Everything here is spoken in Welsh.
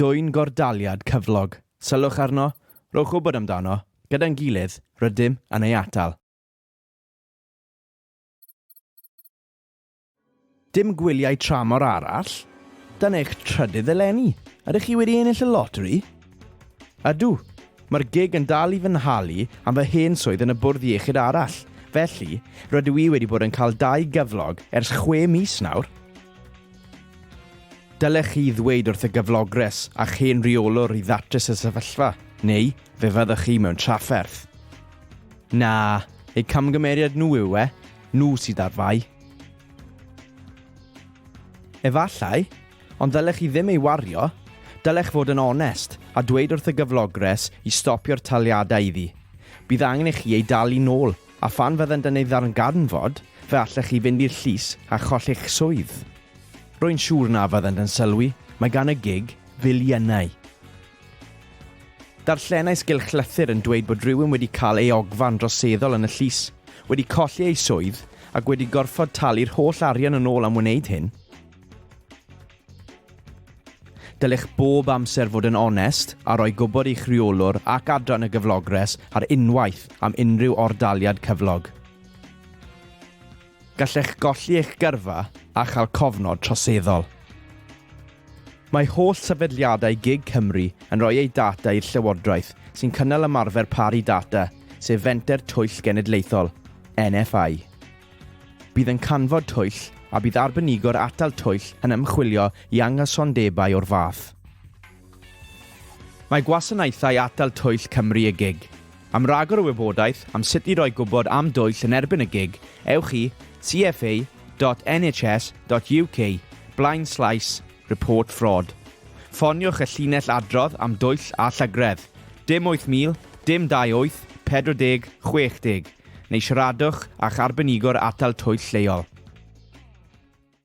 Dwyn gordaliad cyflog, sylwch arno, rhowch wybod amdano, gyda'n gilydd, rydym yn ei atal. Dim gwyliau tramor arall? Dan eich trydydd eleni, ydych chi wedi ennill y loteri? Ydw, mae'r gig yn dal i fy nhalu am fy hen swydd yn y bwrdd iechyd arall, felly, rydw i wedi bod yn cael dau gyflog ers chwe mis nawr. Dylech chi ddweud wrth y gyflogres a'ch hen reolwr i ddatrys y sefyllfa, neu fe fyddwch chi mewn trafferth. Na, eu camgymeriad nhw yw e, nhw sydd ar fai. Efallai, ond ddylech chi ddim ei wario, dylech fod yn onest a dweud wrth y gyflogres i stopio'r taliadau iddi. Bydd angen i chi ei dalu nôl A phan fyddent yn ei ddarganfod, fe allech chi fynd i'r llys a cholli'ch swydd. Rwy'n siŵr na fyddent yn sylwi, mae gan y gig filiynau. Darllenais gylchlythyr yn dweud bod rhywun wedi cael ei ogfa'n droseddol yn y llys, wedi colli ei swydd ac wedi gorfod talu'r holl arian yn ôl am wneud hyn. Dylech bob amser fod yn onest a rhoi gwybod i'ch rheolwr ac adran y gyflogres ar unwaith am unrhyw ordaliad cyflog. Gallech golli eich gyrfa a chael cofnod troseddol. Mae holl sefydliadau gig Cymru yn rhoi eu data i'r Llywodraeth sy'n cynnal ymarfer paru data, sef Fenter Twyll Genedlaethol, NFI. Bydd yn canfod twyll, a bydd arbenigwr atal twyll yn ymchwilio i anghysondebau o'r fath. Mae Gwasanaethau Atal Twyll Cymru, y gig, am ragor o wybodaeth am sut i roi gwybod am dwyll yn erbyn y gig, ewch i cfa.nhs.uk blaenslaes report fraud. Ffoniwch y llinell adrodd am dwyll a llygredd, dim 8000, dim 28, 40, 60. neu siaradwch â'ch arbenigo'r atal twyll lleol.